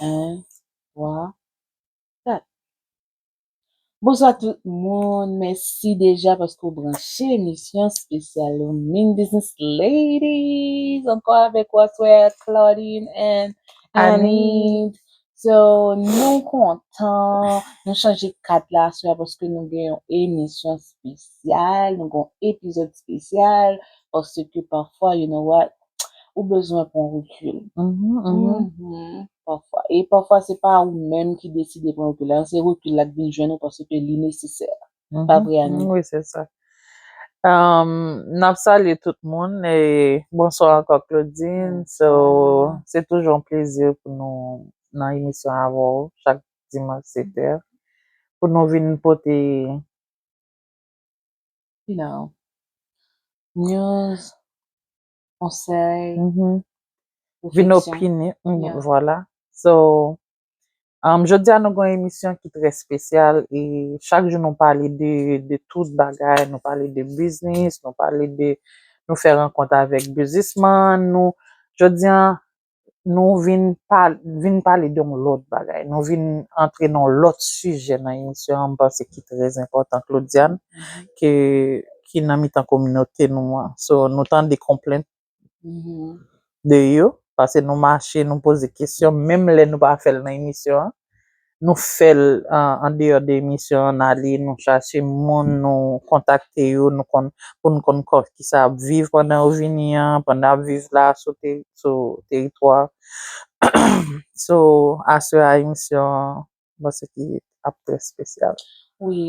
1, 3, 4. Bonswa tout moun. Mèsi deja paske ou branche emisyon spesyal Min Business Ladies. Ankò avèk ou aswè Claudine and Annie. So, nou kontan. Nou chanje kat la aswè paske nou gen yon emisyon spesyal. Nou gen yon epizòd spesyal. Paske pafwa, you know what, ou bezwen pran rekil. Pafwa. E pafwa se pa ou menm ki deside pran rekil la. Se rekil la ki vin jwenn ou paske li nesesè. Pa vre Annie? Oui, c'est ça. Nap salye tout moun e bonswa ankò Claudine. So, se toujou yon plezi pou nou nan emisyon avè w chak dimanch 7 è. Pou nou vin pote you know, news, konsèy, refleksyon. Vin opine, vwala. So, jodi a nou gwen emisyon ki trè spesyal e chak jou nou pale de tout bagay, nou pale de biznis, nou pale de, nou fè rankont avèk bizisman nou. Jodi a, nou vin pal vin pale de yon lòt bagay. Nou vin antre nan yon lòt sijè nan emisyon an m panse ki trè enpòtan Claudiane ke ki nan mitan kominote nou an. So nou tande konplent de yo pase nou mache nou poze kesyon menm lè nou pa fè l nan emisyon an. Nou fè l an deyò de emisyon an n ale nou chache moun nou kontakte yo pou nou konn kò ki sa y ap viv pandan yo vini an pandan y ap viv la sou teritwa so aswè a emisyon an mwen panse ki ap trè spesyal. Wi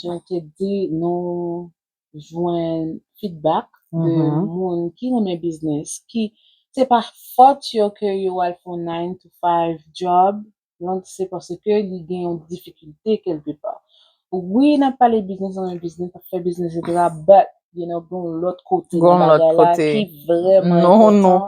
jan w te di nou jwenn feedback de moun ki renmen biznis, ki se pa fòt yo ke yo al fè yon nine to five job, donk se paske li gen yon difikilte kèlke pa. Wi n ap pale biznis, renmen biznis, ap fè biznis eksetera but you know gen yon lòt kote nan bagay la ki vrèman enpòtan.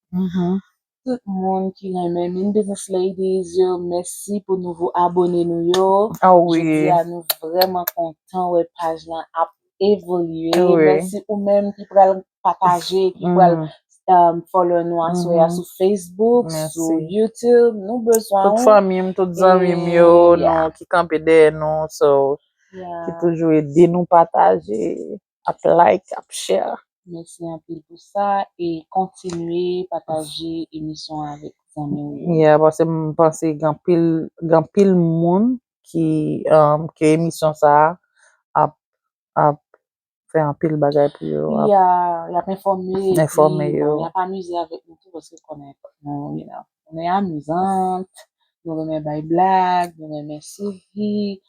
Mhm. Tout moun ki renmen min business ladies yo mèsi pou nouvo abone nou yo. Ah oui. Jodi a nou vrèman kontan wè paj lan ap evolye. Ah oui. Mèsi ou menm ki pral pataje, ki pral mm. um, follow nou aswè mm. sou Facebook, Merci. sou YouTube. Nou bezwen Tout fanmi m, tout zanmi m yo, yeah. nou ki kanpe dèyè nou, so yeah. ki toujou ede nou pataje. ap like ap share. Mèsi anpil pou sa e kontinye pataje emisyon an avèk zanmi w yo. Yeah pase m panse gen anpil gen anpil moun ki ke emisyon sa ap ap fè anpil bagay pou yo Yeah yap enfòme enfòme yo yap amize avèk nou tou paske konnen nou you know. Nou e amizant, nou renmen bay blag, nou renmen souri,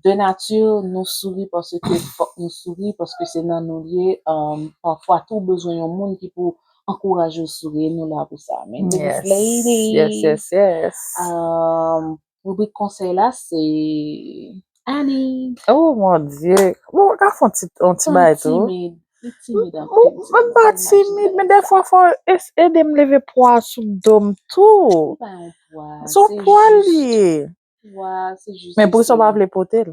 de nati nou souri paske fòk nou souri paske se nan nou l ye, pafwa tou ou bezwen yon moun ki pou ankouraje w souri e nou la pou sa. Yes yes yes yes. Rubrik konsèy la se Annie. Oh mon Dieu. Bon, mwen ka fon ti, on ti bay tou. Mwen timid. Mwen timid an pi. Mwen pa timid, men defwa fò ede m leve pwa sou do m tou. Se pa yon pwa. Se yon pwa li. Pwa, se jis. Men pou ki sa w pa vle pote l?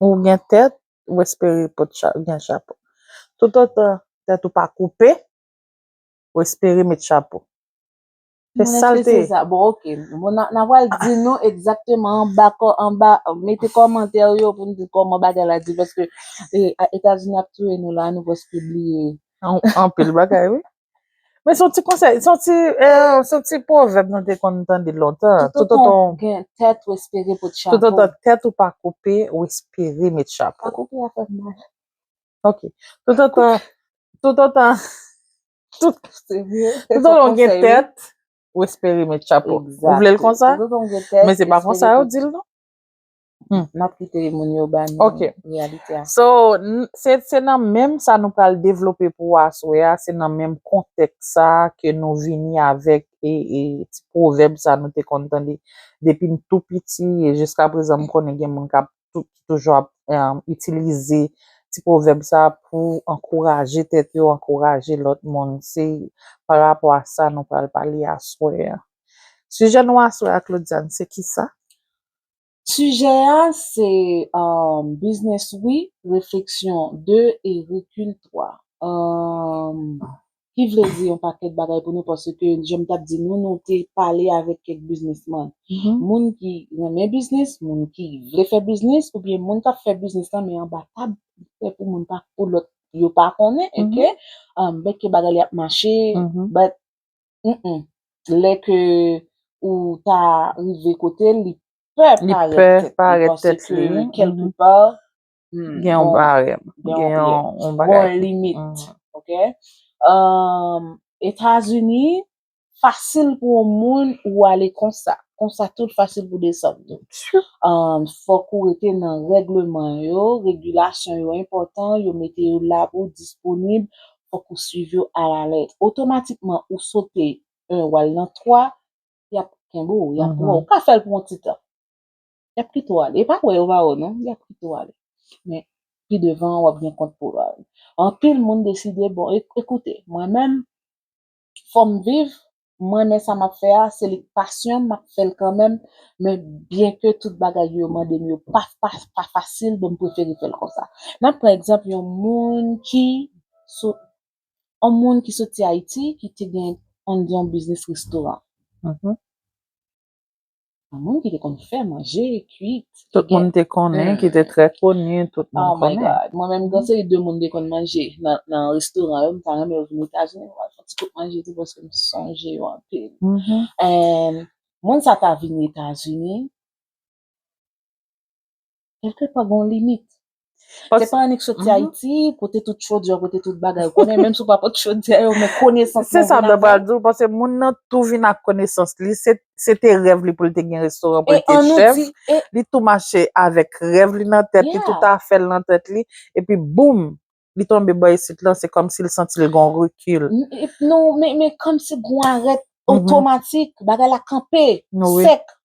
Ou gen tèt, ou espere pou ou gen chapo. Toutotan tèt ou pa koupe, ou espere met chapo. Se sa l te. Bon, ok. Bon, n a pral di nou egzakteman anba, anba, mete kòmantè ou yo pou nou di kòman bagay la di. Paske Etazini ap touye nou la, nou prèske bliye. Anpil bagay, wi. Men son ti konsèy, son ti, eh, son ti pwovèb nou te konn tande lontan. Tout otan w gen tèt ou espere pot chapo. Tout otan tèt ou pa koupe, ou espere met chapo. Pa koupe a fè mal. Ok. Tout otan, tout otan, tout, tout otan w gen tèt, ou espere met chapo. Ou vle l konsa? Men se pa konsa yo di l non. Hmm. Nap kite moun yo ba nou Ok. realite a. So, n- se se nan menm sa nou pral devlope pou ou aswè a, se nan menm kontèks sa a ke nou vini avèk e, e ti pwovèb sa nou te konn tande depi n tou piti e jiska prezan m konnen gen moun kap tou, ki toujou ap em, itilize ti pwovèb sa a pou ankouraje tèt yo, ankouraje lòt moun. Se pa rapò a sa nou pral pale aswè a. Sijè nou aswè a Claudiane se kisa? Sijè a se um biznis wi refleksyon 2 e rekil 3 um ki vle di yon pakèt bagay pou nou paske jan m t ap di nou nou te pale avèk kèk biznisman moun ki renmen biznis moun ki vle fè biznis oubyen moun k ap fè biznis lan men anba tab pè pou moun pa pou lòt yo pa konnen um bèt ke bagay li ap mache bèt Humm lè ke ou ta rive kotel li pè parèt tèt li paske kelke pa gen yon barèm gen yon bagay gen yon limit ok etazini fasil pou yon moun ou ale konsa konsa tou l fasil pou desann tou fòk ou rete nan regleman yo regilasyon yo enpòtan yo mete yo la pou disponib fòk ou swiv yo a la lèt. Otomatikman ou sote 1 ou al nan 3, y ap kenbe w, y ap pran w. Ou ka fè l pou yon ti tan. Y ap kite w ale. Yo pa wè yo va wè w non. Y ap kite w ale. Men, pi devan w ap gen kont pou w rale. Anpil moun deside, bon, ekoute, mwen menm, fòm viv mwen men sa map fè a se li k pasyonm map fèl kanmèm men byen ke tout bagay yo mandem yo pa pa fasil bon m prefere fèl konsa nan pran egzanp yon moun ki sou yon moun ki soti ayiti ki te gen ann di yon biznis restoran Moun ki te konn fè manje, kuit. Tout moun te konnen, ki te trè koni, tout moun konnen. Oh my God! Mwen menm gen seri de moun te konn manje nan restoran yo, m ta renmen vini Etazini pou m al fè yon ti kout manje tou paske m sonje yo anpil. And moun sa ta vini Etazini. Eske pa gon limit? Se pa annik soti Ayiti, pote tout chodyè, pote tout bagay ou konnen, menm si ou pa pote chodyè yo, men konesans lan vin avèw. Se sa mwen pral di w, paske moun nan tou vin ak konesans li, se te rèv li pou l te gen restoran, pou l te chèf, li tou mache avèk rèv li nan tèt li, tout afè l nan tèt li, epi boum! li tonbe bò isit lan, se kòm si l santi l gen yon rekil. Non, men kòm si gen yon arèt otomatik, bagay la kanpe, sèk.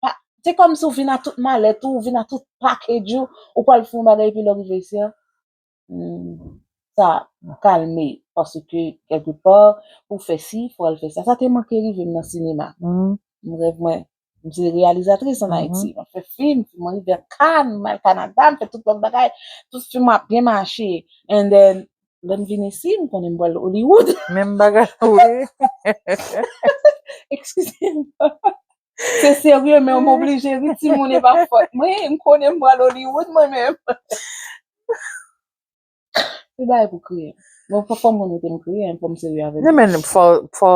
Se kòm si ou vin ak tout malèt ou, ou vin ak tout package ou, ou pral fè yon bagay epi lè w rive isit lan, sa kalme. Paske, kèlke pò, pou w fè si, pou w al fè sa. Sa te manke rive m nan sinema. M rèv mwen. M se reyalizatris an Ayiti. M ap fè fim, m rive a Kann, m al Kanada, m fè tout lòt bagay. Tout fim mwen ap byen mache. And then, lè m vin isi, m konnen m pral Hollywood. Menm bagay tou wi. Ekskize m. Se serye men m oblije ri timoun e pa fòt mwen. M konnen m pral Hollywood mwen menm. Tout bagay pou kriye. Bon fòk fòm moun mete m kriye an fòm serye avèl. Nan men fò fò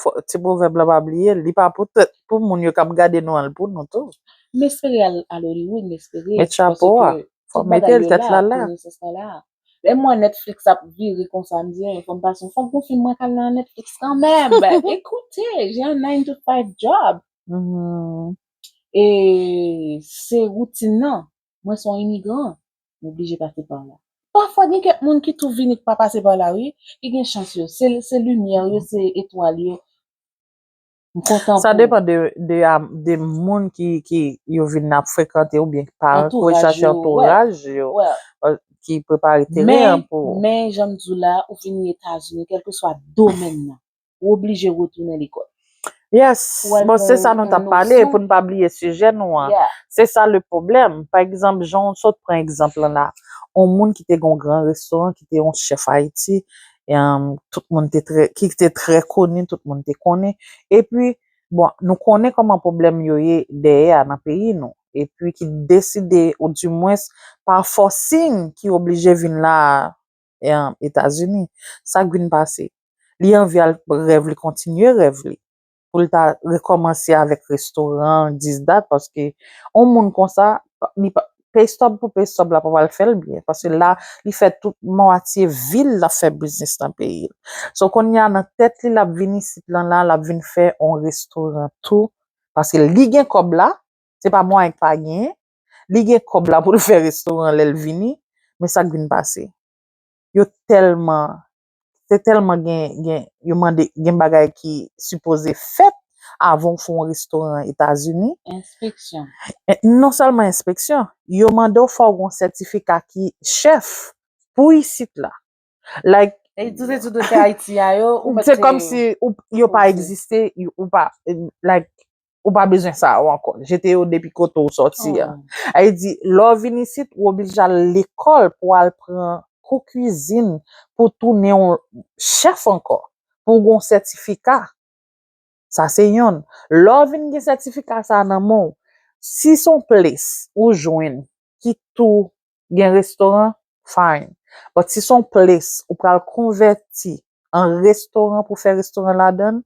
fò ti pwovèb la pa bliye li pa pou tèt pou moun yo kap gade nou an l pou nou tou. M espere al al Hollywood m espere Met chapo a paske fò tout bagay mete l yo tèt la la la. konesans la la. Lè m wè Netflix ap vire konsa m di fò m pase yon fòk gon fim mwen kal nan Netflix kanmenm ekoute jen an nine to five job e se woutin nan Mwen se yon imigran, m oblije pase pa la. Pafwa gen kèk moun ki tou vini k pa pase pa la wi, ki gen chans yo, se limyè yo, se etwal yo. M kontan pou. Sa depan de moun ki yo vin ap frekante oubyen ki pa antouraj yo. Sa se antouraj yo ki prepare teren an pou. Men jan m di w la, ou vini Etazini, kèlkeswa domèn nan, ou oblije retounen lekòl. Yes, bon se sa nou tap pale pou nou pa bliye sijè nou an. Se sa le pwoblèm. Pa egzanp, jan ou sot pran egzanp lan la, yon moun ki te gen yon gran restoran, ki te yon chèf Ayiti, tout moun te trè, ki te trè koni, tout moun te konnen, epi, bon, nou konnen kòman pwoblèm yo ye dèyè a nan peyi nou, epi ki deside, ou di mwens, pa fòsing ki oblije vin la a, etazini sak vin pase li anvi al rèv li kontinye rèv li pou l ta rekòmanse avèk restoran dis dat paske on moun konsa li pa peystob pou peystob la pa pral fè l byen paske la li fè tout mwatye vi l lap fè biznis nan peyi l so konnya nan tèt li lap vin isit lan la lap vin fè on restoran tou paske li gen kòb la se pa mwen ki pa genyen Li gen kòb la poul fè restoran lèl vini, men sak vin pase? Yo tèlman, se tèlman gen gen yo mande gen bagay ki sipoze fèt avan ou fè yon restoran etazini. Enspeksyon. Non sèlman enspeksyon, yo mandew fòw gen yon sètifika ki chèf pou isit la. Like. E tout etid ou fè Ayiti a yo, ou pa te. Se kòm si yo pa egziste, ou pa, like, ou pa bezwen sa yo ankò. Jete yo depi kote ou sòti a. A yo di, lè ou vin isit, ou oblije al lekòl pou al pran kou kuizin pou tounen yon chèf ankò, pou ou gen yon sètifika. Sa se yonn. Lè ou vin gen sètifika sa a nan men w, si se yon plis ou jwenn ki tou gen restoran fine but si son place ou pral konvèti an restoran pou fè restoran ladann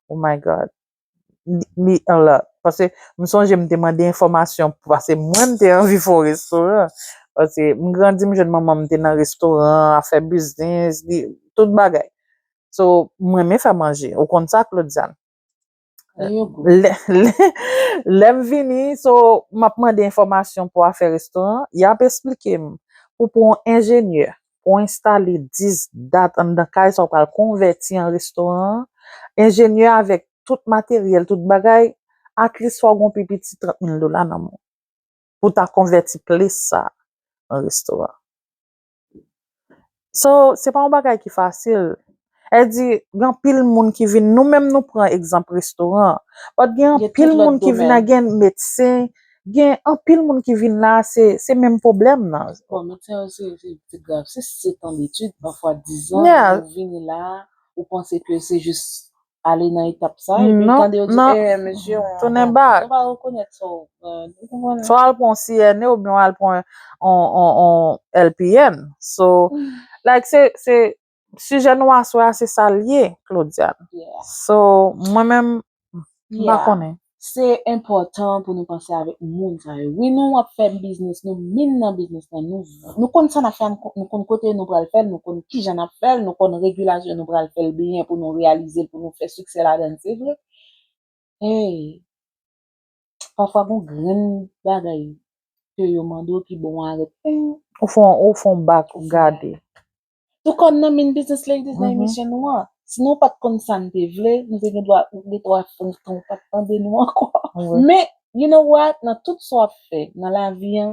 oh my god li a lot pase m sonje m te mande enfòmasyon pase mwen m te anvi fè yon restoran pase m grandi m jwenn manman m te nan restoran afè biznis li tout bagay so m renmen fè manje ou konn sa Claudiane. Lè m vini, so m ap mande enfòmasyon pou afè restoran, y ap esplike m pou pran yon enjenyè pou w enstale 10 dat anndan kay sa w pral konvèti an restoran an. Enjenyè a avèk tout materyèl, tout bagay, atlis fò w gen yon pi piti 30 mil dola nan men w pou w ta konvèti plis sa a an restoran. So, se pa yon bagay ki fasil. Èl di, gen anpil moun ki vin, nou menm nou pran egzanp restoran an. But gen anpil moun ki vin la, gen medsen, gen anpil moun ki vin la, se, se menm pwoblèm nan. Bon, medsen yo se, se ti grav. Se setan detid, pafwa dizan, ou vini la, ou panse ke se jis ale nan etap sa e pi tande yo di ee mesye ou tounen bak ou pa rekonèt sa ou fè swa al pran yon CNE oubyen al pran yon LPN so like se se sijè nou aswè a se sa l ye Claudiane so mwen menm m pa konnen. Se enpòtan pou nou panse avèk moun sa yo wi nou ap fè biznis nou min nan biznis lan nou konn sa nap fè nou konn kote nou pral fèl nou konn kijan nap fèl nou konn regilasyon nou pral fèl byen pou nou reyalize l pou nou fè siksè ladann se vre hey pafwa gon grenn bagay ke yo mande w ki bon arête ou fon bak ou gade. Tou kò n nan min Business Ladies nan emisyon nou an. Si nou pa t konn sa n te vle, nou te gen dwa gen twa fon tan ou pa t tande nou ankò. Men, you know what, nan tout sa w ap fè nan lavi an,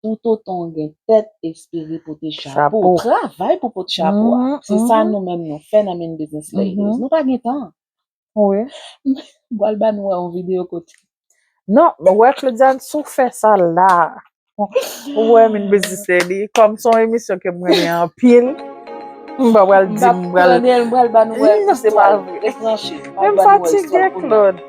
toutotan w gen tèt, espere pote chapo. Travay pou w pot chapo a. Se sa nou menm nou fè nan min Business Ladies. Nou pa gen tan. Wi. M pral ba nou wè yon videyo kote. Non, wè Claudiane sou fè sa la. Ou wè min biznisè li. Kòm son emisyon ke m renmen anpil. M pa pral di m pral. M pral pral ba nou wè. Non, se pa vre. Rete branche. Men m fatige Claude.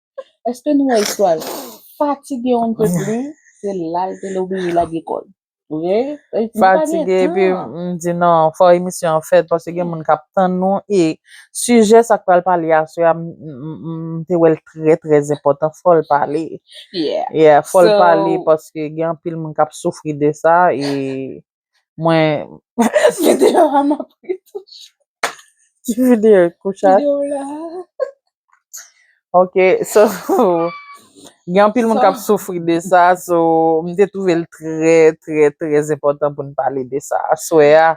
Eske nou wè istwa l? Fatige on ne peut plus, se la l te lobliye lage kò l. Vre? Nou pa gen Fatige epi tan. m di non, fò emisyon an fèt paske gen moun k ap tann nou e sijè sa k pral pale aswè a m m m te wè l trè trè enpòtan fò l pale. Yeah. Yeah, fò l So, pale paske gen anpil moun k ap soufri de sa e Mwen Video a map ri toujou. Ki video koucha? Video la. Ok so gen anpil moun kap soufri de sa so m te twouve l trè trè trè enpòtan pou n pale de sa aswè a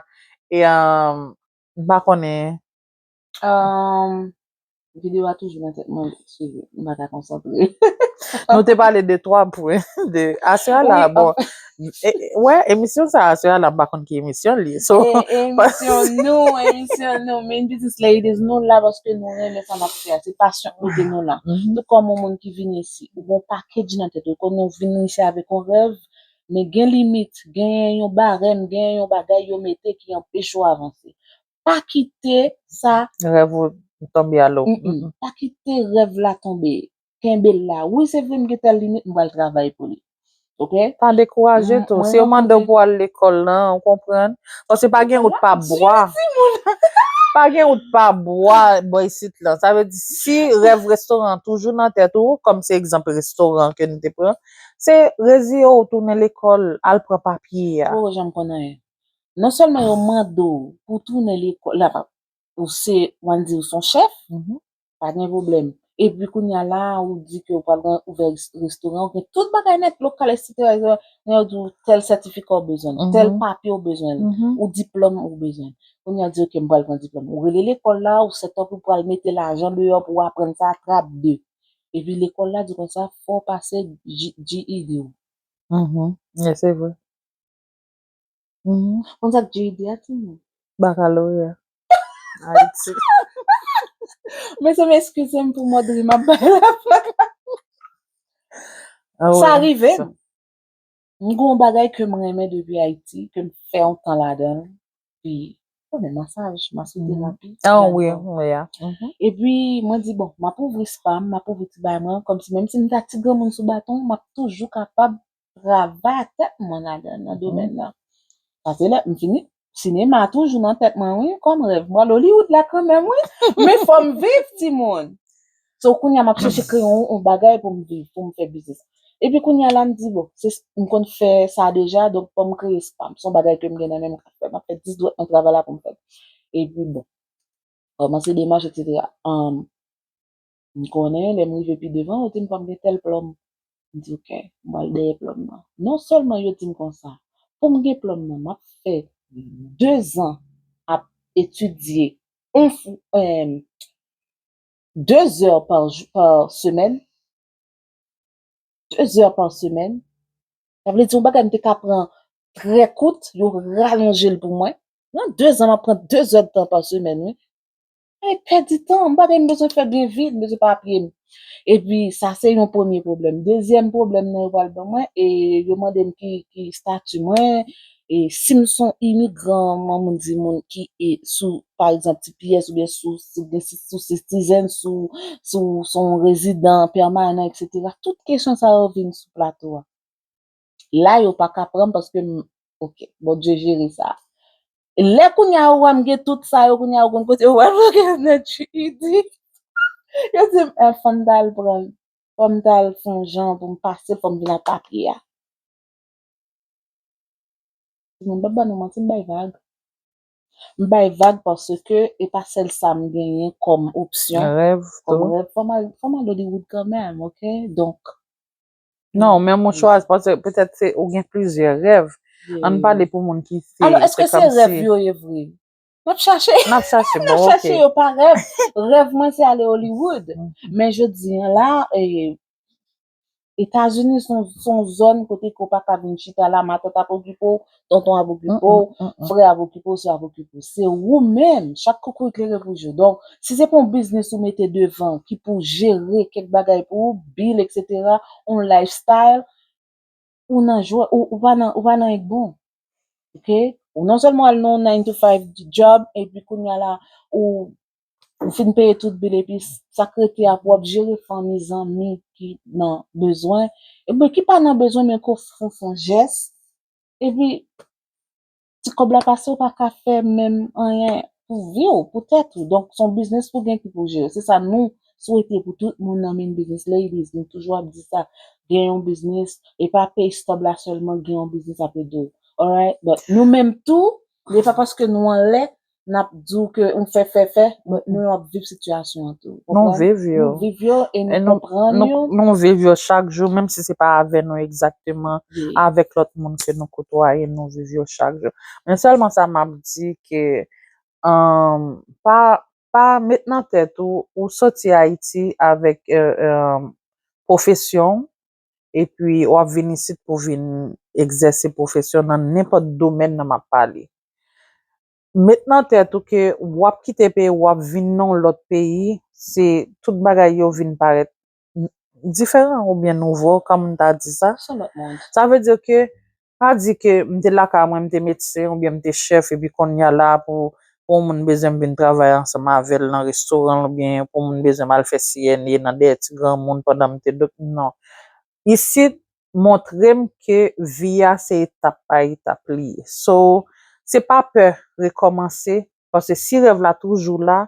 e m pa konnen Ahh video a toujou nan tèt mwen cheri m pa ka konsantre. Nou te pale de 3 pwen de Asya la bon wè emisyon sa Asya la m pa konn ki emisyon li so emisyon nou emisyon nou min business ladies nou la paske nou renmen sa nap fè a se pasyon ki mete nou la tout kòm on moun ki vin isi ou gon package nan tèt ou kòm ou vin isi avèk on rèv men gen limit genyen yon barèm genyen yon bagay yo mete ki anpeche w avanse Pa kite sa. Rèv ou tonbe a lo. Pa kite rèv la tonbe. Kenbe l la. Wi, se vre m gen tèl limit, m pral travay pou li. Ok? Pa dekouraje tou. Si yo mande w pou al lekòl lan, ou konprann. Paske pa gen wout pa bwa. Pa gen wout pa bwa bò isit lan. Sa vle di si rèv restoran an toujou nan tèt ou, kòm se egzanp restoran ke nou te pran, se reziye w tounen lekòl, al pran papye a. Ou pa janm konn anyen. non sèlman yo mande w pou w tounen lekòl la pa ou se wan di ou son chèf pa gen pwoblèm epi kounye a la ou di ke ou pral gen ouvè restoran ou gen tout bagay nèt lokal estetik men yo di w tèl sètifika ou bezwen tèl papye ou bezwen ou diplòm ou bezwen kounye a yo di w ke m pral pran diplòm ou rele lekòl la ou sètop ou pral mete lajan deyò pou w aprann sa trap de epi lekòl la di w konsa fò w pase GED ou se vre Humm konn sak JD a timoun. Bakaloreya Ayiti. Mezanmi eskizem pou mòd ri map bay la flack la. Sa rivem. M gon bagay kem renmen depi Ayiti kem fè yon tan ladanl pi konnen masaj masoterapi. An wi m ya. Epi mwen di bon map ouvri spam map ouvri ti bagay mwen kòmsi menmsi m ta ti granmoun sou baton map toujou kapab travay ak tèt mwen ladann nan domèn nan. Pase lè m fini, sinema toujou nan tèt mwen wi kòm rèv. M pral Hollywood la kanmèm wi men fò m viv timoun. So kounye a m ap chèche kreye yon bagay pou m viv, pou m fè biznis. Epi kounye a la m di bon, se m konn fè sa deja donk fò m kreye pa m. Son bagay ke m gen nan menm m ka fè. M ap fè dis dwèt nan travay la pou m fè. Epi bon, kòmanse demach etsetera. M konnen lè m rive pi devan yo di m pa m gen tèl plòm. M di ok, m pral dèyè plòm nan. Non sèlman yo di m konsa, pou m gen plòm nan m ap fè dezan ap etidye on fou em de zè pa semèn, de zè pa semèn. Sa vle di yon bagay m te ka pran trè kout, yo ralonje l pou mwen. Nan dezan m ap pran de zè tan pa semèn wi. Mwen pèdi tan, m pa gen bezwen fè byen vit, m bezwen pa apiye m. E pi sa se yon premye pwoblèm. Dezyèm pwoblèm nan yo pral ban mwen e yo mande m ki ki stati mwen e si m son imigran man moun di moun ki e sou pa egzanp tps oubyen sou si gen si sou sitizèn sou si w son rezidan pèmanan eksetera. Tout kesyon sa yo vin sou plato a. la yo paka pranm paske m ok Bondye jere sa lè kounya ou wè m gen tout sa yo kounya ou konn kote ou wè m ok nan GED yo di m eh fòm ta al pran l fòm ta al fon jan pou m pase fòm vin ak papye a m pap ba nou manti m bay vag m bay vag paske e pa sèl sa m genyen kòm opsyon kòm rèv fòm al fòm al Hollywood kanmèm ok donk. Non, men mou chwa, petèt se ou gen plizyè rèv. An pale pou moun ki se. Alò, eske se rèv yo ye vre? Nap chache. Nap chache, bon, ok. Nap chache yo pa rèv. Rèv mwen se ale Hollywood. Men je di an la, e, Etazini son zòn kote ke ou pa ka vin chita la, matòt ap okipe ou, tonton ap okipe w, frè ap okipe w, sè ap okipe w. Se ou menm, chak koukouy klere pou je w. Donk, si se pa yon biznis ou mete devan ki pou jere kèk bagay pou ou, bil eksetera, yon lifestyle, ou nan jwè, ou pa nan, ou pa nan egbon. Ok? Ou non sèlman al nan yon nine to five job epi kounya la ou ou fin peye tout bil epi sa k rete a pou w ap jere fanmi, zanmi ki nan bezwen, e mwen ki pa nan bezwen men ke w fon fon jès Epi ti kòb la pase ou pa ka fè menm anyen pou vi ou, pou tèt ou. Donk son biznis pou gen ki pou jere. Se sa nou swete pou tout moun nan min biznis. Ladies, nou toujou ap di sa. Gen yon biznis, e pa pay stub la sèlman, gen yon biznis ap ede ou. Alright? But nou menm tou, e pa paske nou anlè, nap di w ke ou fè fè fè, but nou ap viv sitiyasyon an tou. Nou viv yo. Nou viv yo e nou konprann yo. Nou viv yo chak jou, menm si se pa avè nou egzakteman, avèk lòt moun ke nou kotwaye, nou viv yo chak jou. Men sèlman sa map di ke, pa, pa met nan tèt ou, ou soti Ayiti avèk pwofesyon w, epi w ap vin isit pou vin egzèse pwofesyon nan nenpòt domèn nan m ap pale. Met nan tèt ou ke w ap kite peyi w, w ap vin nan yon lòt peyi, se tout bagay yo vin parèt diferan oubyen nouvo, kòm m ta di sa. Sa vle di ke Pa di ke m te lakay mwen, m te medsen oubyen m te chèf epi konnya la pou pou yon moun bezwen m vin travay ansanm avè l nan restoran l oubyen pou yon moun bezwen m al fè CNA nan dèyè ti granmoun pandan m te dòk non. Isit montre m ke vi a se etap pa etap li ye. So, se pa pè rekòmanse paske si rèv la toujou la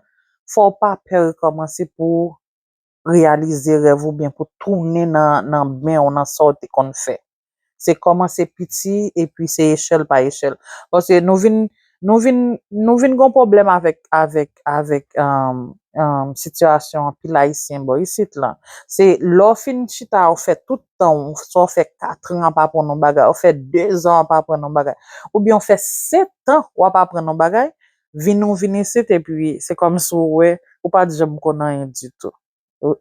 fò w pa pè rekòmanse pou reyalize rèv ou byen pou tounen nan men ou nan sa ou te konn fè. Se kòmanse piti epi se echèl pa echèl. Paske nou vin nou vin nou vin gon pwoblèm avèk avèk avèk sitiyasyon anpil ayisyen bò isit lan. Se lè ou fin chita ou fè tout tan ou, sa ou fè katran ap aprann yon bagay, ou fè dezan ap aprann yon bagay, oubyen ou fè setan wap aprann yon bagay, vini ou vini isit epi se kòmsi ou wè ou pa t janm konn anyen ditou.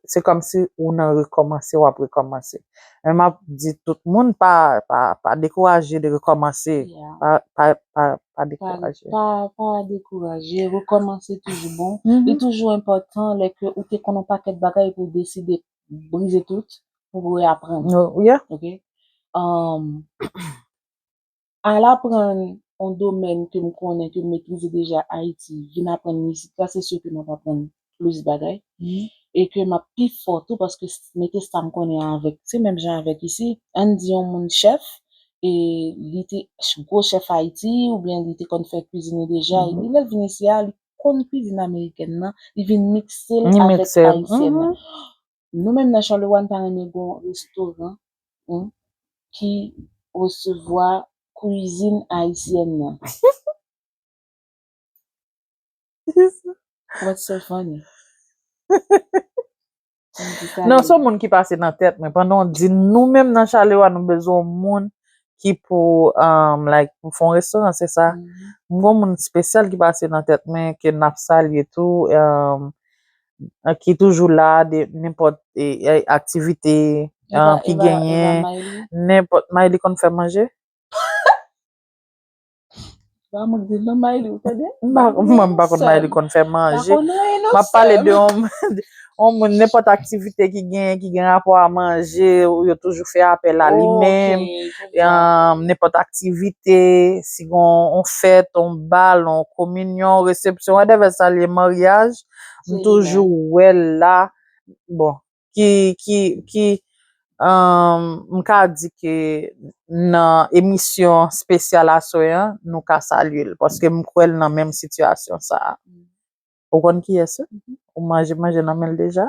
Se kòmsi ou nan rekòmanse w ap rekòmanse. Men m ap di tout moun pa pa pa dekouraje de rekòmanse. Pa pa pa pa dekouraje. Pa pa dekouraje. Rekòmanse toujou bon. Li toujou enpòtan lè ke ou te konn yon pakèt bagay epi ou deside brize tout pou reaprann. Ou ye. Ok? Al aprann on domèn ke m konnen, ke m metrize deja Ayiti, vin aprann mizik la, se si ke m ap aprann plis bagay, e ke m ap pi fò tou paske mete sa m konnen an avèk, se menm jan avèk isi, an n di on moun chèf, e li te gwo chèf Ayiti, oubyen li te konn fè kuizin li deja, epi lè l vin isi a, li konn kuizin amerikèn nan, li vin mikse l avèk ayisyèn nan. Nou menm nan Charleroy nou ta renmen gen yon restoran ki resevwa kwizin ayisyèn nan. What's so funny? Non son moun ki pase nan tèt mwen pandan w di nou menm nan Charleroy nou bezwen yon moun ki pou like pou fon restoran se sa? M gen yon moun spesyal ki pase nan tèt mwen ke n ap salye tou. ki toujou la de nenpòt aktivite ki genyen, nenpòt, Mayli konn fè manje? Ba m di non Mayli ou tande? M pa konn, mwen m pa konn Mayli konn fè manje, m ap pale de yon moun, nenpòt aktivite ki genyen ki gen rapò a manje, yo toujou fè apèl a li menm, nenpòt aktivite, si gen yon fèt, yon bal, yon kominyon, yon resepsyon, whatever sa l ye, maryaj, M toujou wè l la, bon, ki, ki, ki, um, m ka di ke nan emisyon spesyal aswè an, nou ka salye l, paske m kwè l nan menm sitiyasyon sa a. Ou konn kiyès li? Ou manje manje nan men l deja?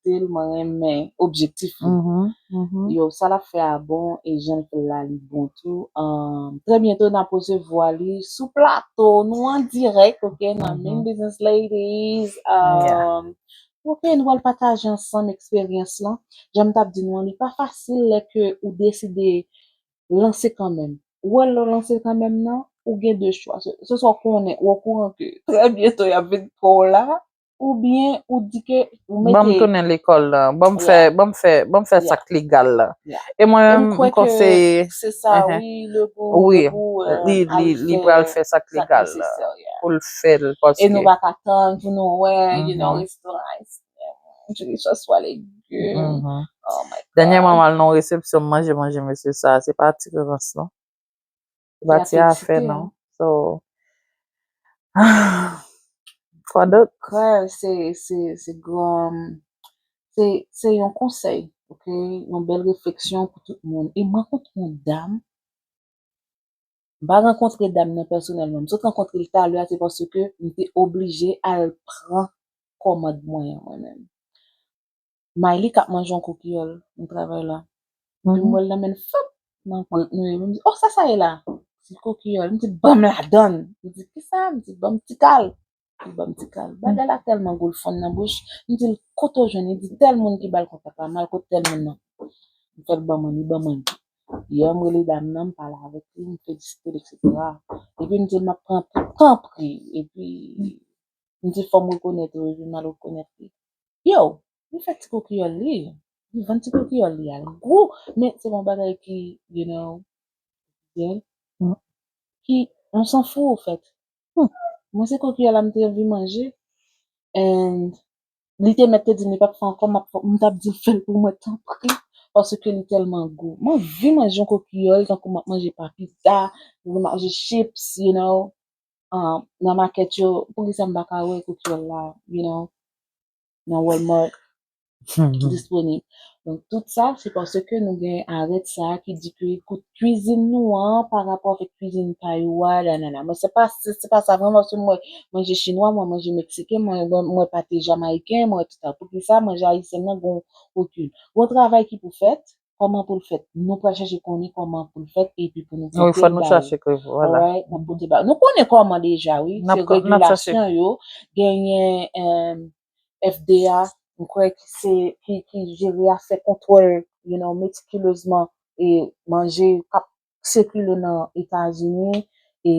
Sil mwen renmen objectif li yo sa lap fè a bon e janl fèl la li bon tou trè byento nap resevwa li sou plato nou an dirèk ok nan Min Business Ladies ok nou pral pataje ansanm eksperyans lan janm tap di nou an li pa fasil lè ke ou deside lanse kanmèm ou wè lèw lanse kanmèm nan ou gen 2 chwa se swa ou konnen ou okouran ke trè byento yap vin pranw la Ou byen ou di ke ou mete. Banm tounen lekòl la. Banm fè, banm fè, banm fè sak legal la. E mwen menm m konseye. M kwè ke se sa wi le pou, le pou. Wi, li, li pral fè sak legal la. Poul fèl paske. E nou pa ka tann pou nou wè you know restoran ayisyen. Jodi swa swa legume. Oh my God. Dènyèman m al nan yon resepsyon m manje manje mesye sa, se pa ti rans non. Bati a fè non. So. Kwa dot? Kwa se, se, se gran, se, se yon konsèy, ok, yon bèl refleksyon pou tout moun. E mwen kont yon dam, ba rankontre dam nan pèsonèlman, m sot rankontre l talè a se paske m te oblije al pran kòmand mwen an mwen menm. Mayli kap manje yon kou kiyòl nan travay la epi m wè l nan men l fap nan gwant nou epi m di oh sa sa ye la Ti kou kiyòl m di banm ladan l li di kisa m di banm ti kal li banm ti kal bagay la tèlman gou l fonn nan bouch m di l kote w jwenn li di tèl moun ki ba l kontak la m al kot tèl moun nan m fè l banm an li banm an yè m rele dam nan m pale avèk li m felisite l eksetera epi m di l map pran pou tanpri epi m di fò m rekonèt ou epi m al rekonèt li. Yow li fè ti kokiyòl li li vann ti kokiyòl li al gou men se pa yon bagay ki you know officiel ki on s'en fou ou fèt mwen se kokiyòl la m te anvi manje and li te mèt te di m li pap fè ankò map m tap di l fè l pou mwen tanpri paske li tèlman gou m anvi manje yon kokiyòl tankou map manje papita map manje chips you know. um, nan makèt yo, poukisa m pa ka wè koukyèl la, you know, nan Walmart disponib. Donk tout sa, se paske nou gen arèt sa a ki di ke kout kuizin nou an pa rapò avèk kuizin pay ou a, nanana. Mwen se pa, se, se pa sa vreman, paske mwen manje chinwa, mwen manje meksiken, mwen, mwen, mwen pate jamayiken, mwen tout sa. Poukisa manje ayisyen nan gon okun? Gon travay ki pou fèt, Kòman pou l fèt? Nou pral chache konnen kòman pou l fèt epi pou nou pote l ba yo. Alright, n ap pote l ba yo. Nou konnen kòman deja wi, se regilasyon yo. Genyen FDA, m kwè ki se, ki jere afè kontwòl, you know, metikilezman e manje k ap sikile nan etazini e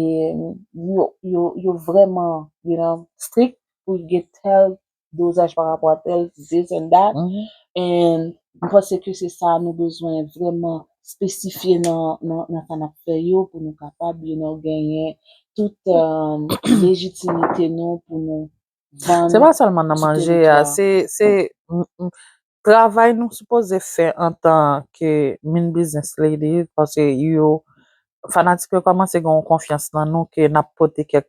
yo vreman you know strik pou gen tèl dozaj pa rapò a tèl this and that and m panse ke se sa nou bezwen vreman spesifye nan sa nap fè yo pou nou kapab you know genyen tout lejitimite nou pou nou vann tout tèritwa. Se pa sèlman nan manje a se Travay nou sipoze fè antan ke min biznis lady paske yo fanatik yo kòmanse gen yon konfyans nan nou ke n ap pote kèk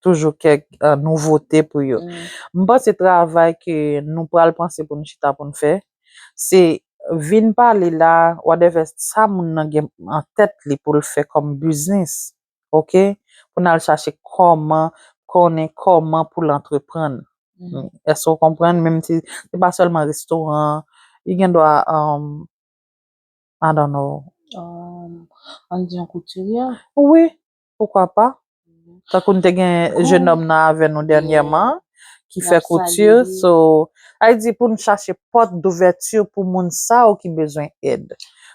toujou kèk nouvote pou yo. M panse travay ke nou pral panse pou nou chita pou nou fè se vin pale la wadèvè sa moun nan gen an tèt li pou l fè kòm biznis. ok pou nal chache kòman konnen kòman pou l antreprann èske ou konprann menm si se pa sèlman restoran li gen dwa I don't know ann di yon koutiryè wi poukwa pa tankou nou te gen jenòm nan avè nou dènyèman ki fè kouti so sa vle di pou nou chache pòt douvèti pou moun sa yo ki bezwen èd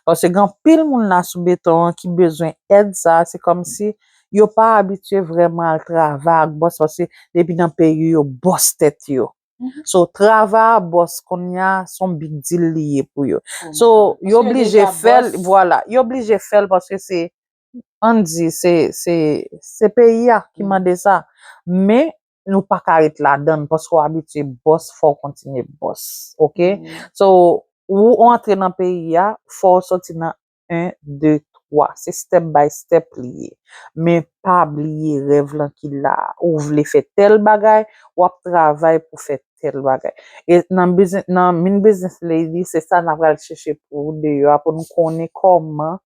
paske gen anpil moun la sou beton an ki bezwen èd sa se kòmsi yo pa abitye vrèman al travay ak bòs paske depi nan peyi yo bòs tèt yo so travay a bòs konnya se yon big deal li ye pou yo so yo blije fè l vwala yo blije fè l paske se ann di se se se peyi a ki mande sa men nou pa ka ret ladan l paske w abitye bòs fò w kontinye bòs ok so ou antre nan peyi a fò w sòti nan 1 2 3 se step by step li ye men pa bliye rèv lan ki la a ou vle fè tèl bagay w ap travay pou fè tèl bagay e nan bizi nan min business lady se sa n apral chèche pou deyò a pou n konnen kòman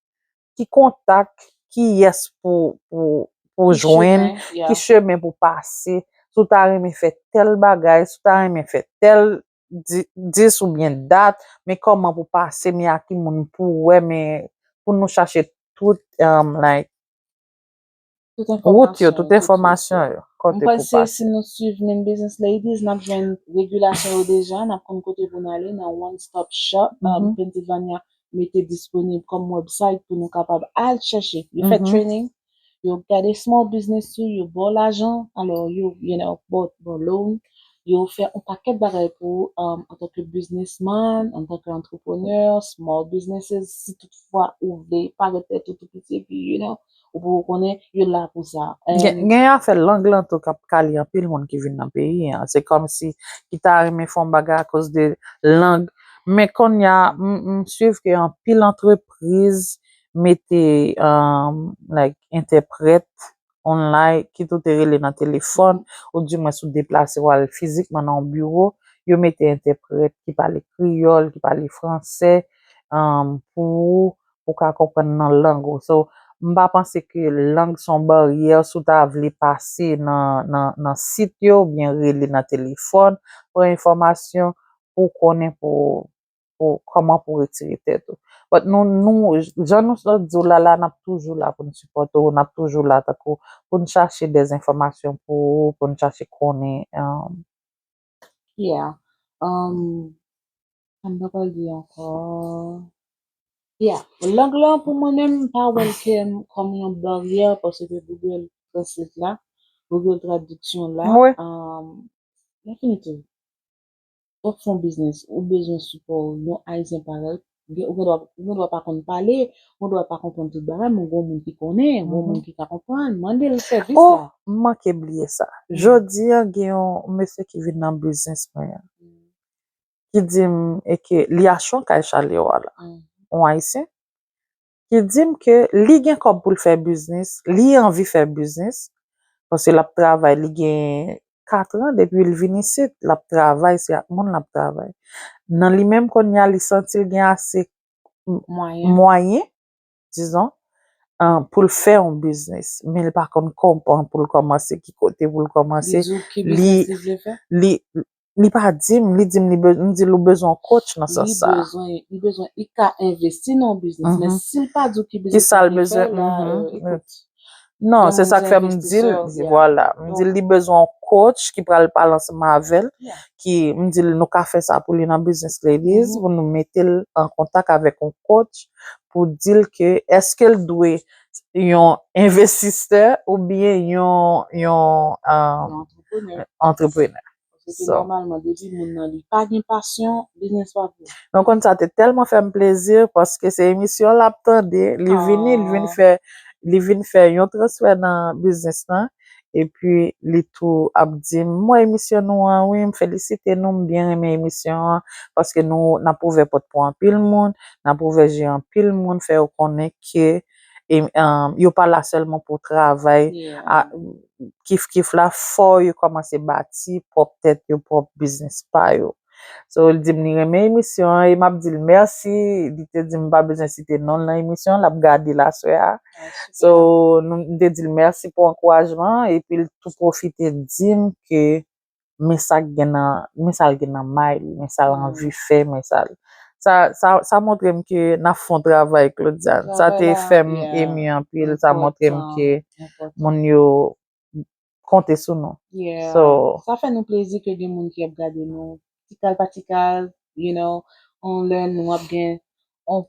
ki kontak, ki yès pou ou jwenn, ki chemen pou pase, si w ta renmen fè tèl bagay, si w ta renmen fè tèl dis ou byen dat, men kòman pou pase, men a ki moun pou wè, men pou nou chache tout, like. Wout yo, tout enfòmasyon yo, kote pou pase. M panse si nou swiv Min Business Ladies nap jwenn regilasyon yo deja, nap konn kote pou nou ale nan one stop shop Pennsylvania mete disponib kòm website pou nou kapab al chèche. Yo fè training, yo gade small business ou, yo baw lajan, alò yo you know baw loan, yo fè on pakèt bagay pou ou antanke businessman, antanke entrepreneur, small businesses si tout fwa ou vle parèt tèt ou tou piti epi you know Ou poko konnen, yo la pou sa. Gen afè lang lan tou kap kale anpil moun ki vin nan peyi an. Se kòmsi ki ta renmen fè yon bagay akoz de lang. Men konnya m swiv ke anpil antrepriz mete like entèprèt online kit ou te rele nan telefòn ou di mwens ou deplase ou al fizikman nan yon biwo, yo mete entèprèt ki pale kreyòl, ki pale fransè pou ou pou ka konprann nan lang ou so m pa panse ke lang son baryè si w ta vle pase nan nan nan sit yo oubyen rele nan telefòn pran enfòmasyon pou konnen pou pou kòman pou retire tèt ou but nou nou jan nou sa di w la la nap toujou la pou n sipòte w nap toujou la tankou pou n chache dèzenfòmasyon pou ou pou n chache konnen Yeah. Um, sa m ta pral di ankò. Yeah. Lang lan pou mwen menm m pa wè l kem kòm yon baryè paske Google Translate la, Google Traduction la, Mwen um, definitely, wap fon biznis, ou bezwen sipò yon Ayisyen parèy, Ou gen dwa, ou gen dwa pa konn pale, ou gen dwa pa konprann tout bagay, men ou gen yon moun ki konnen, yon moun mhm. ki ka konprann, mande l sèvis oh, la. Oh, m manke bliye sa. Mhm. Jodi an gen yon mesye ki vin nan biznis mwen an. Mhm. Ki di m e ke li achon kay Chalewa la. On Ayisyen. ki di m ke li gen kòb pou l fè biznis, li anvi fè biznis, paske l ap travay li gen katran depi l vin isit, l ap travay se ak moun l ap travay. Nan li menm kounye a li santi l gen ase mwayen dizon pou l fè yon biznis men li pa konn kòman pou l kòmanse, ki kote pou l kòmanse, li Li pa di m, li di m li be, m di l ou bezwen yon coach nan sans sa. Li bezwen, li bezwen, li ka envesti nan yon biznis men si l pa di w ki biznis li vle fè la, ekout. Non, se sa k fè m di l, vwala, m di l li bezwen yon coach ki pral pale ansanm avè l, ki, m di l nou ka fè sa pou li nan Business Ladies pou nou mete l an kontak avèk yon coach pou di l ke èske l dwe yon envestisè oubyen yon, yon, yon. antreprenè. Mwen konn sa te tèlman fè m plezi paske se emisyon l ap tande, li vini li vin fè li vin fè yon transfè nan biznis lan epi li tou ap di m mwen emisyon nou an wi m felisite nou m byen renmen emisyon an paske nou n ap ouvè pòt pou anpil moun n ap ouvè je anpil moun fè yo konnen ke e yo pa la sèlman pou travay kif kif la fò yo kòmanse bati pwòp tèt yo pwòp biznis pa yo so li dim li renmen emisyon an e map dil mèsi li te dim pa bezwen site nonl nan emisyon an lap gadel aswè a so mte dil mèsi pou ankourajman an epil tou pwofite dim ke. men sa k gen nan, men sa l gen nan may li, men sa l anvi fè, men sa l. Sa, sa, sa montre m ke n ap fè yon travay, Claudiane. Sa te fè m emi anpil, sa montre m ke moun yo konte sou nou. So. Sa fè nou plezi ke gen moun ki ap gade nou, tikal pa tikal, you know, yon lè nou ap gen yon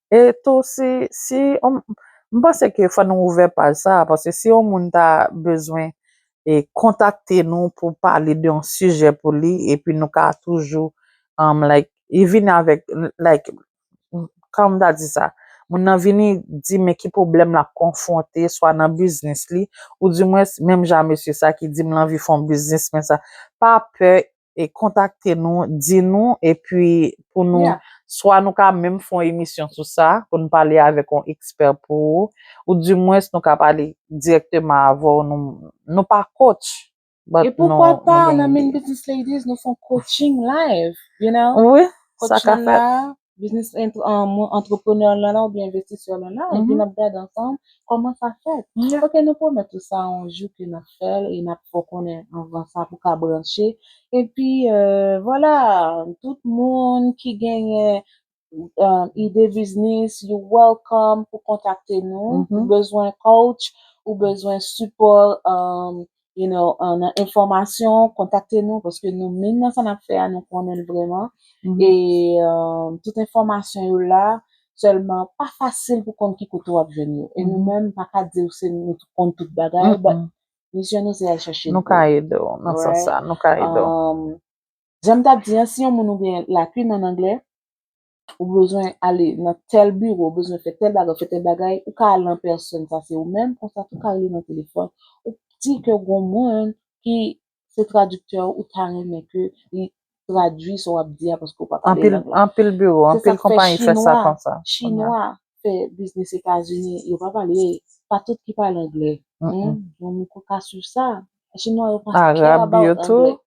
E tou si si yon m panse ke fò nou ouvè paj sa a paske si yon moun ta bezwen e kontakte nou pou pale de yon sijè pou li epi nou ka toujou um like e vini avèk like kòman m ta di sa moun nan vini di men ki pwoblèm l ap konfwonte swa nan biznis li ou dimwens menm jan a mesye sa ki di m l anvi fè yon biznis men sa pa pè e kontakte nou, di nou, epi pou nou, swa nou ka menm fè yon emisyon sou sa, pou nou pale avèk yon ekspè pou ou, ou di mwens nou ka pale dirèkteman avè w, nou pa coach, but nou gen ide. E poukwa pa nan Min Business Ladies nou fè yon coaching live, you know, coaching la, Business entrepreneur lan la ou byen investisè lan la, epi nap gade ansanm kòman sa fèt. Ok nou pwomèt ou sa yon jou ke nap fèl e nap fè w konnen anvan sa pou ka branche. Epi vwala tout moun ki genyen ide biznis you welcome pou kontakte nou. Ou bezwen coach, ou bezwen sipò you know, euh, nan enfòmasyon, kontakte nou paske nou menm nan sa n ap fè a nou konnen l vrèman e euh, tout enfòmasyon yo la, sèlman pa fasil pou konn ki kote w ap jwenn yo e nou menm pa ka di w se nou ki konn tout bagay but misyon nou se al chèche l pou w. Nou ka ede w nan sans sa, nou ka ede w. Jan m t ap di an, si yon moun ou gen lakin an anglè, Ou bezwen ale nan tèl biwo, ou bezwen fè tèl bagay, ou fè tèl bagay, ou ka ale an pèsòn, sa se ou menm, konsa tou ou ka rele nan telefòn, ou di ke gon moun ki se tradiktè ou, ou ta renmen ke li tradui sa w ap di a paske ou pa pale lang lan. Anpil biwo, anpil konpayi fè sa konsa. Se sa k fè Chinwa fè biznis Etazini, yo pa pale, pa tout ki pale angle. Yon moun ka swiv sa. Chinwa yo pa care about angle. Arab yo tou.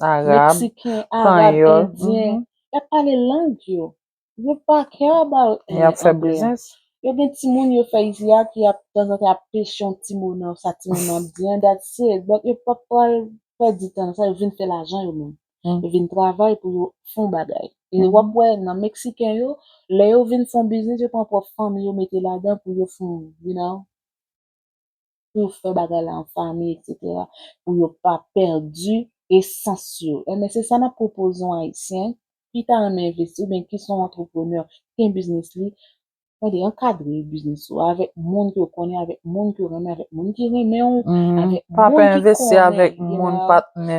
Meksiken, Arab, Endyen, y ap pale lang yo. Yo pa care about anglais. Y ap fè biznis. Yo gen timoun yo fè isi a ki ap tanzantan ap peche yon ti mo nan sa timoun nan ap di an, that's it. But yo pap pral pèdi tan nan sa, yo vin fè lajan yo menm. Yo vin travay pou yo fè yon bagay. E w ap wè nan Meksiken yo, lè yo vin fè yon biznis, yo pran pwòp fanmi yo mete ladan pou yo fè yon, you know. pou fè bagay la an fanmi eksetera pou yo pa pèdi esans yo enben se sa nap pwopoze yon ayisyen ki ta renmen envesti oubyen ki son antreprenè ki gen biznis li tande ankadre biznis ou avèk moun ke w konnen avèk moun ke w renmen avèk moun ki renmen w avèk moun ki konnen pape envesti avèk moun patnè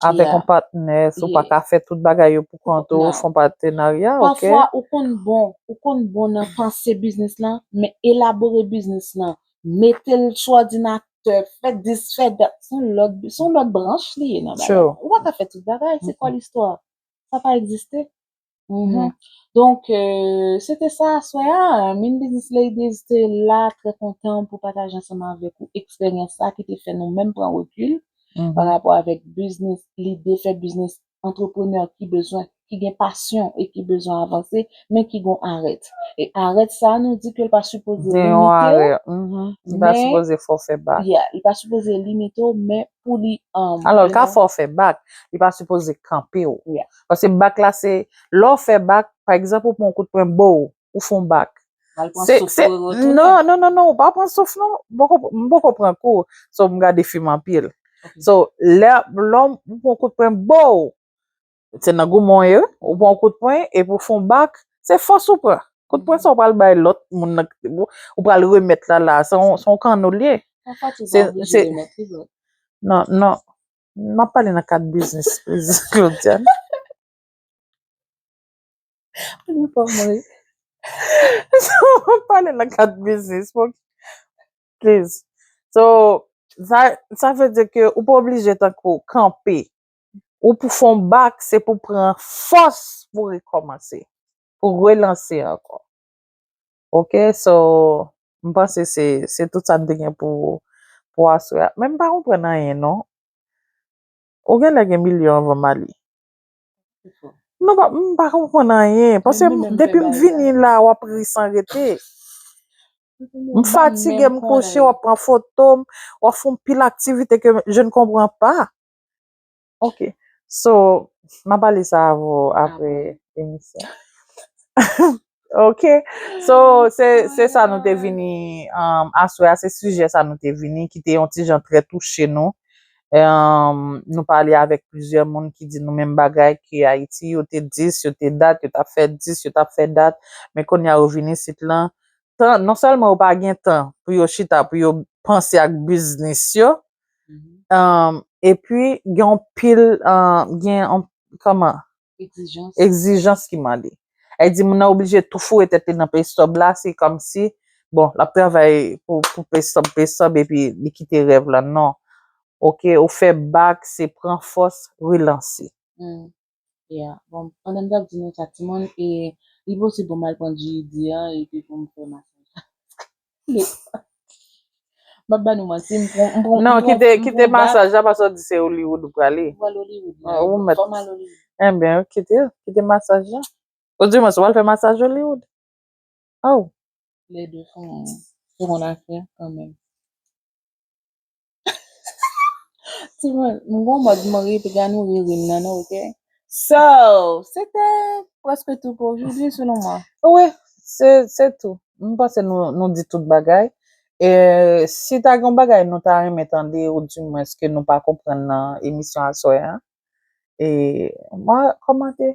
Avèk Yeah. yon patnè, sou pa Yeah. ka fè tout bagay yo pou kont ou, Non. fon patenarya, ok? Pafwa ou konn bon, ou konn bon nan panse biznis lan, men elabore biznis lan, mete l sou òdinatè, fè dis fè dat, se yon lòt, se yon lòt branch li ye nan bagay True. la. Ou pa ka fè tout bagay, se kò listwa. Sa pa egziste. Mhm. Donc, euh, c'était ça aswè a. Min Business Ladies te la trè kontan pou pataje ansanman avèk ou eksperyans la ki te fè nou menm pran rekul Mhm. pa rapò avèk biznis, lide fè biznis antreprenè ki bezwen, ki gen pasyon e ki bezwen avanse, men ki gon arèt. E arèt sa nou di ke l pa sipoze Gen yon limite arè. ou, Mhm. Li pa men, sipoze fò fè bak. yeah, li pa sipoze limite ou, men pou li, um, Alò, l you ka know, fò fè bak. Li pa sipoze kanpe ou. yeah. Paske bak la se, lè w fè bak, pa egzanp ou pran yon kout pwen bow, ou fè yon bak. Ou al pran Se- souf se- pou retounen. Non, non, non, non, ou pa pran souf non. M poko, m poko pran kou, so m gade fim anpil. Ok. So, lè, lè w pran yon kout pwen bow, se nan goumen w ye wi, ou pran yon kout pwen epi ou fè yon bak, se fòs ou pran. Kout pwen sa ou pral bay lòt moun nan ki te bow, ou pral remèt la la, se yon, se yon kanno l ye. Pafwa tou ou pa Se- oblije se- remèt li vre. Non, non. M ap pale nan kad biznis Prezidan Claudiane. Ou di fò m ri. M ap pale nan kad biznis mwen. Pliz. So, sa vle di ke ou pa oblije tankou kanpe. Ou pou fon bak, se pou pran fòs pou rekòmanse. Pou relanse ankò. Ok so m panse se se tout sa n te gen pou pou aswè a men m pa konprann anyen non ou genlè gen milyon anvan m ale non pa m pa konprann anyen pase m depi m vini la w ap ri san rete m fatige m kouche w ap pran foto m w ap fè anpil aktivite ke je ne konprann pa. Ok. So, m a pale sa avè w apre emisyon. Ok. So, se sa nou te vini aswè a, se sijè sa nou te vini ki te yon ti jan trè touche nou. Nou pale avèk plizyè moun ki di nou menm bagay ki Ayiti, yo te dis, yo te dat, yo t ap fè dis, yo t ap fè dat, men kounye a yo vin isit lan. Non sèlman yo pa gen tan pou yo chita, pou yo panse ak biznis yo, E pi gen yon pil, gen yon, kòman? Egzijans. Egzijans ki mande. E di moun nan oblije tou foure tèt li nan peystòb la, se kòm si, bon, l ap travay pou peystòb, peystòb, e pi li kite rèv la. Non. Ok, ou fè bak, se pran fòs, relanse. Yeah bon pandan m tap di nou sa ti moun e li posib pou m al pran GED an epi pou m fè master la paske m pap ba nou manti m pran m pran non kite kite masaj la paske w di se Hollywood ou prale m pral Hollywood la ou mèt fò m al Hollywood enben ok kite kite masaj la ou di mwen si w al fè masaj Hollywood oh les deux font seconde affaire quand même Timoun, m gon mòd m ri piga nou ri ri m nan non ok. So, se te prèske tou pou ojoudwi selon mwen. Wi, se se tou. M panse nou nou di tout bagay. E si ta gen bagay nou ta renmen tande ou di mwens ke nou pa konprann nan emisyon aswè an, e mwa kòmante.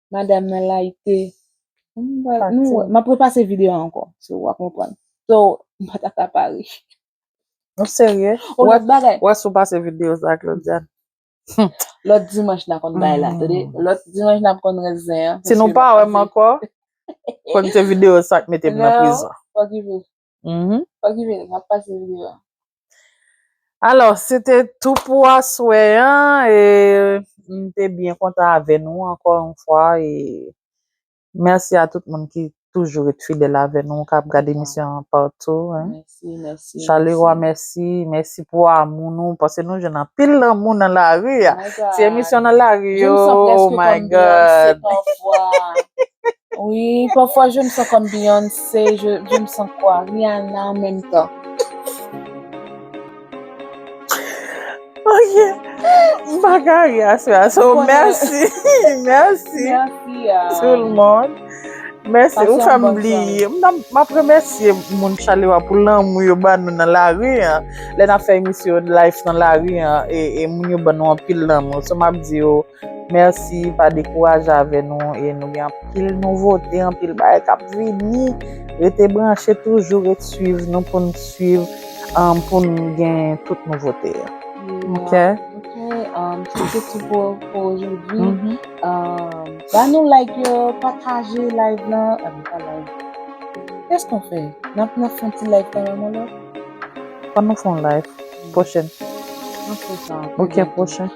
Madam nan layite. M ap repase videyo an ankò. So w a konprann. So m pa ta ka pa ri. Ou serye? Ou lòt bagay. Ou wè si w pase videyo sa ak Claudiane. Lòt dimanch n a konn bay la. Tande, lòt dimanch n ap konn rès zen an. Si nou pa wè m ankò, fò kite videyo sa k mete m nan prizon. Non, fò kite. Mhm. Okipe, map pase video a. Alors, se te tou pou aswè an, e m te byen kontan avè nou ankò yon fwa, e mèsi a tout moun ki toujou ret fidèl avè nou, k ap gad emisyon an patou. Mèsi, mèsi. Chalewa mèsi, mèsi pou amou nou, paske nou jwenn anpil lanmou nan lari a. Ti emisyon nan lari yo, oh my God. Jèm santi èske kòm Beyonce pafwa. Wi, pafwa je m san kòm Beyoncé, je, je m san kwa Rihanna an menm tan. Ok, m pa ka ri aswè a. So, mèsi, mèsi. Mèsi a. Tout le monde. Mèsi, Pase ou yon fè m bon bliye. M nan- m ap remèsye moun Chalewa pou lanmou yo ban nou nan lari an. Lè n ap fè emisyon Life nan lari an, e, e moun yo ban nou anpil lanmou. So, m ap di yo, Merci pa dekouraje avè nou e nou gen anpil nouvote anpil bagay kap vini rete branche toujou ret swiv nou poun swiv um, poun gen tout nouvote yo ok ok um, se te tout pou ojoudwi um, ba nou like yo pataje live lan a nou pa like kès nou fè nap nan fon ti like kanmèm yon lò fò nou fon live pwochen ok pwochen.